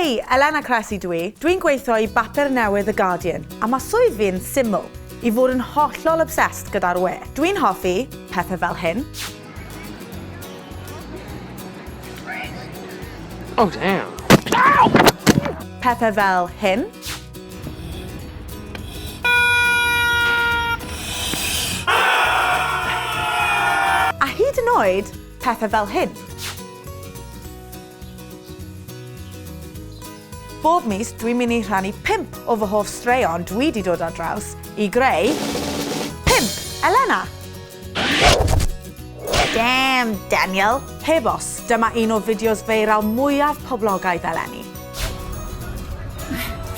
Hei! Elena Cressy dw i. Dwi'n gweithio i bapur newydd The Guardian, a mae swydd fi yn syml, i fod yn hollol obsessed gyda'r we. Dwi'n hoffi pethau fel hyn. Oh damn! Pethau fel hyn. A hyd yn oed pethau fel hyn. Bob mis dwi'n mynd i rhannu pump o fy hoff straeon dwi 'di dod ar draws i greu Pump Elena! Damn, Daniel! Heb os, dyma un o fideos feiral mwyaf poblogaidd eleni.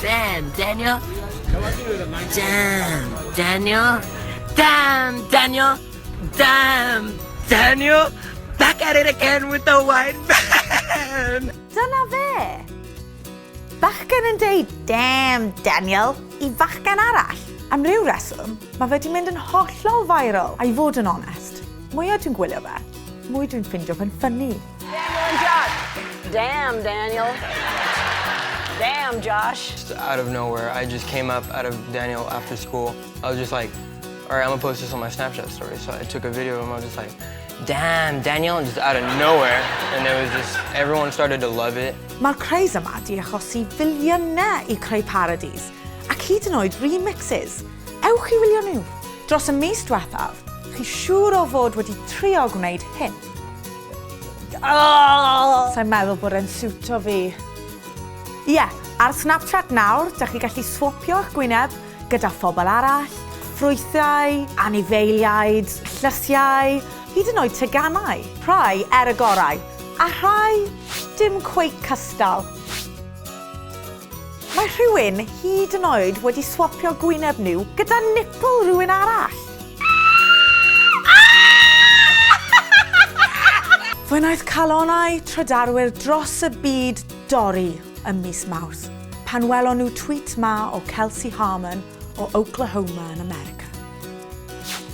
Damn, Daniel! Damn, Daniel! Damn, Daniel! Damn! Daniel! Back at it again with the white van! Dyna fe! Bachgen yn deud damn Daniel i fachgen arall. Am ryw reswm, mae fe 'di mynd yn hollol viral, a i fod yn onest, mwya dwi'n gwylio fe, mwy dwi'n ffindio fe'n ffynnu. Daniel and Josh! Damn Daniel! Damn Josh! Out of nowhere, I just came up out of Daniel after school. I was just like. Alright, I'm gonna post this on my Snapchat story. So I took a video and I was just like, damn, Daniel, just out of nowhere. And it was just, everyone started to love it. Mae'r craze yma di achosi filiynau i creu parodies, ac hyd yn oed remixes. Ewch i wylio nhw. Dros y mis diwethaf, chi siŵr o fod wedi trio gwneud hyn. Oh! Sa'n meddwl bod e'n siwto fi. Ie, yeah, ar Snapchat nawr, da chi gallu swopio eich gwyneb gyda phobl arall, ffrwythau, anifeiliaid, llysiau, hyd yn oed teganau. Rhai er y gorau, a rhai dim cweit cystal. Mae rhywun hyd yn oed wedi swapio gwyneb nhw gyda nipple rhywun arall! Fe wnaeth calonnau trydarwyr dros y byd dorri. ym mis Mawrth pan welon nhw tweet 'ma o Kelsey Harmon o Oklahoma yn America.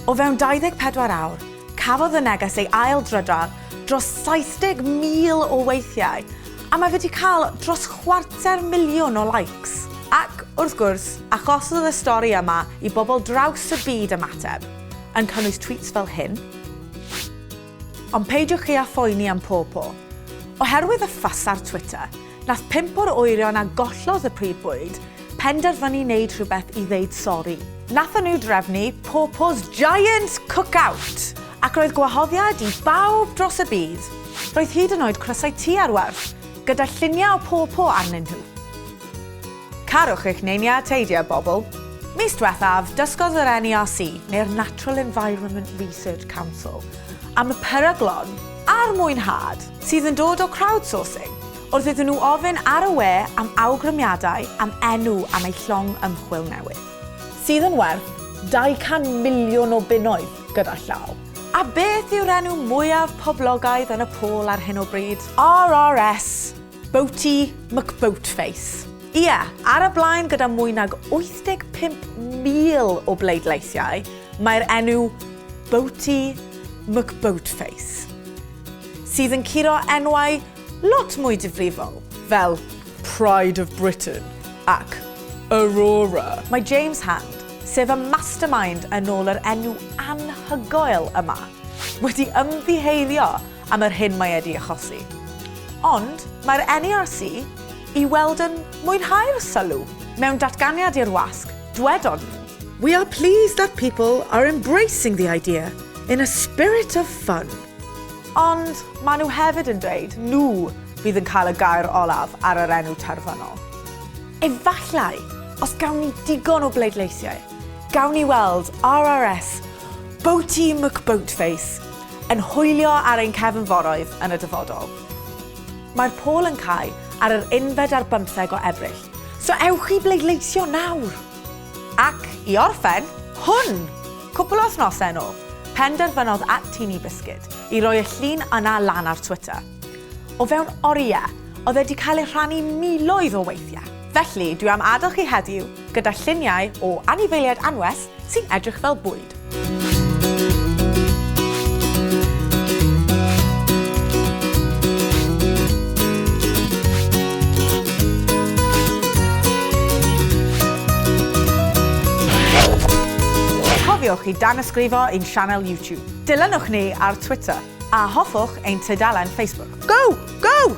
O fewn 24 awr, cafodd y neges ei ail-drydar dros 70,000 o weithiau a mae wedi cael dros chwarter miliwn o likes. Ac, wrth gwrs, achosodd y stori yma i bobl draws y byd ymateb, yn cynnwys tweets fel hyn, Ond peidiwch chi â phoeni am Pawpaw. Oherwydd y ffys ar Twitter, nath pump o'r oerion a gollodd y prif bwyd penderfynu neud rhywbeth i ddeud sori. Nathon nhw drefnu Pawpaw's Giant Cookout! Ac roedd gwahoddiad i bawb dros y byd. Roedd hyd yn oed crysau tŷ ar werth, gyda lluniau o Pawpaw arnyn nhw. Carwch eich neiniau teidio, bobl! Mis diwethaf, dysgodd yr NERC, neu'r Natural Environment Research Council, am y peryglon a'r mwynhad sydd yn dod o crowdsourcing wrth iddyn nhw ofyn ar y we am awgrymiadau am enw am eu llong ymchwil newydd, sydd yn werth 200 miliwn o bunnoedd gyda llaw. A beth yw'r enw mwyaf poblogaidd yn y pôl ar hyn o bryd? RRS! Boaty McBoatface. Ie, ar y blaen gyda mwy nag 85,000 o bleidleisiau, mae'r enw Boaty McBoatface, sydd yn curo enwau lot mwy difrifol, fel Pride of Britain ac Aurora. Mae James Hand, sef y mastermind yn ôl yr enw anhygoel yma, wedi ymddiheurio am yr hyn mae edi achosi. Ond mae'r NERC i weld yn mwynhau'r sylw. Mewn datganiad i'r wasg, dwedon nhw. We are pleased that people are embracing the idea in a spirit of fun. Ond maen nhw hefyd yn dweud nhw fydd yn cael y gair olaf ar yr enw terfynol. Efallai, os gawn ni digon o bleidleisiau, gawn ni weld RRS Boaty McBoatface. Yn hwylio ar ein cefnforoedd yn y dyfodol. Mae'r pôl yn cau ar yr unfed ar bymtheg o Ebrill. So ewch i bleidleisio nawr! Ac i orffen, hwn! Cwpl o wythnosau yn ôl, penderfynodd at Teeny Biscuit i roi y llun yna lan ar Twitter. O fewn oriau, oedd e 'di cael ei rhannu miloedd o weithiau. Felly, dwi am adael chi heddiw gyda lluniau o anifeiliaid anwes sy'n edrych fel bwyd. Cofiwch i danysgrifo i'n sianel YouTube. Dilynwch ni ar Twitter a hoffwch ein tudalen Facebook. Go! Go!